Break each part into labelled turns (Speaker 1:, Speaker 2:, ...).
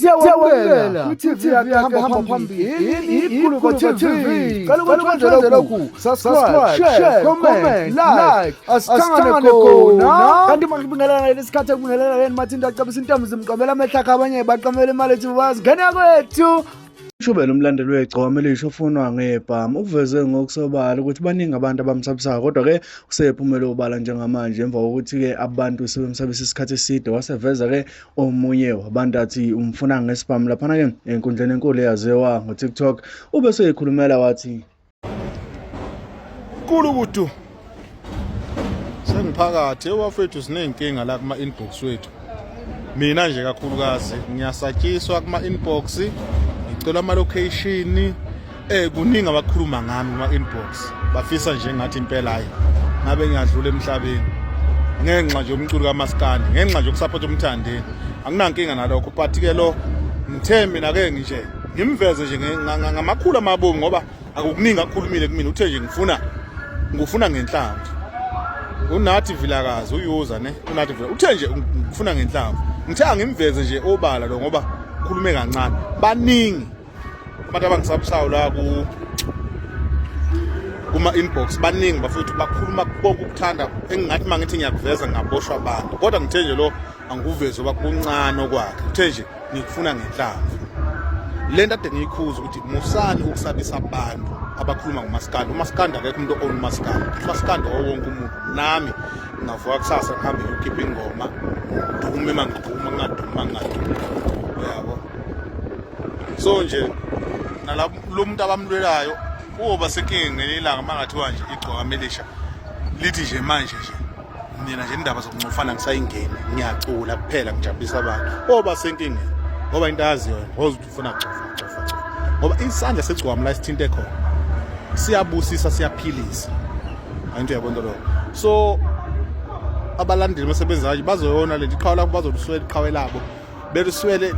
Speaker 1: siyawamukela kwi-tv yakhe hamba phambili ikhuluko tv cela ukuthi wenzele lokhu subscribe share comment like asithangane khona kanti makubingelana leli sikhathi ekubingelana leni mathinto acebisa intombi zimqomela amehla akhe abanye baqomela imali ethi bazi ngena kwethu Ushubele umlandeli wegcoma elisha ofunwa ngebhamu uveze ngokusobala ukuthi baningi abantu abamsabisayo kodwa-ke usephumele obala njengamanje emva kokuthi-ke abantu sebemsabisa isikhathi eside waseveza-ke omunye wabantu athi umfuna ngesibhamu laphana-ke enkundleni enkulu eyaziwa ngotiktok ube seyikhulumela wathi
Speaker 2: kulu kudu sengiphakathi ewafethu siney'nkinga la kuma-inbox wethu mina nje kakhulukazi ngiyasatshiswa kuma-inbox ngicela ama-location Eh kuningi abakhuluma ngami kuma inbox bafisa nje ngathi impela hayi ngabe ngiyadlula emhlabeni ngenxa nje umculo kamaskandi ngenxa nje ukusapota umthandeni anginankinga nalokho but ke lo ngithe mina ke ngishe ngimveze nje ngamakhulu amabomu ngoba akukuningi akhulumile kumina uthe nje ngifuna ngifuna ngenhlamvu unathi vilakazi uyuza ne unathi vila uthe nje ngifuna ngenhlamvu ngithe angimveze nje obala lo ngoba khulume kancane baningi abantu abangisabsayo la ku kuma inbox baningi bafethu bakhuluma konke ukuthanda engingathi mangithi ngiyakuveza ngaboshwa abantu kodwa ngithe nje lo angikuvezi oba kuncane okwakhe uthe nje ngikufuna ngenhlamvu le nto ade ngiyikhuza ukuthi musani ukusabisa abantu abakhuluma ngomasikandi umasikandi akekho umuntu own umasikandi umasikandi owonke umuntu nami ngavuka kusasa ngihambe ngiyokhipha ingoma ngidume uma ngiduma ngingaduma ngingaduma so nje nalabo lo muntu abamlwelayo uyoba senkingeni ngelinye ilanga uma ngathiwa nje igcwaka melisha lithi nje manje nje mina nje indaba zokuncofana ngisayingeni ngiyacula kuphela ngijabulisa abantu oba senkingeni ngoba into ayaziyo ngoze ukuthi ufuna kucofa cofa cofa ngoba isandla segcwami la sithinte khona siyabusisa siyaphilisa ayinto yabonto lokho so abalandeli basebenzayo bazoyona lento iqhawe labo bazoluswela iqhawe labo beliswele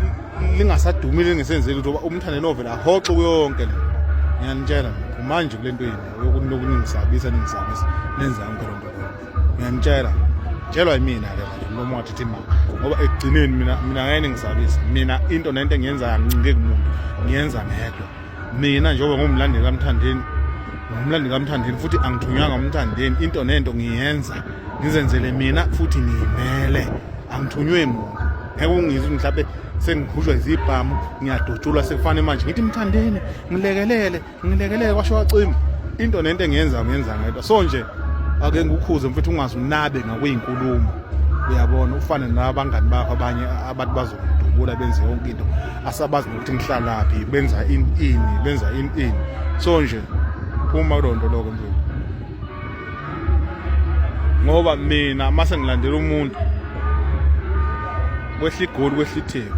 Speaker 2: lingasadumile lingesenzeli ukuthi umthande novele ahoxe kuyonke le ngiyanitshela kumanje kule nto yini yokunoku ningisabisa ningisabisa nenza yonke loo nto ngiyanitshela tshelwa yimina ke manje mlomo wathi thi mama ngoba ekugcineni mina mina ngeke ningisabisa mina into nento engiyenzayo angincike kumuntu ngiyenza ngedwa mina njengoba ngumlandeli kamthandeni ngumlandeli kamthandeni futhi angithunywanga umthandeni into nento ngiyenza ngizenzele mina futhi ngiyimele angithunywe muntu ngeke ungizwe mhlawumbe sengikhujwa izibhamu ngiyadutshulwa sekufanele manje ngithi mthandeni ngilekelele ngilekelele kwasho wacima into nento engiyenza ngiyenza ngedwa so nje ake ngikukhuze mfethu ungazi unabe ngakweyinkulumo uyabona ufane nabangani bakho abanye abantu bazokudubula benze yonke into asabazi ukuthi ngihlalaphi benza in in benza in in so nje phuma kulonto lokho mfethu ngoba mina mase ngilandela umuntu kwehla igoli kwehla itheko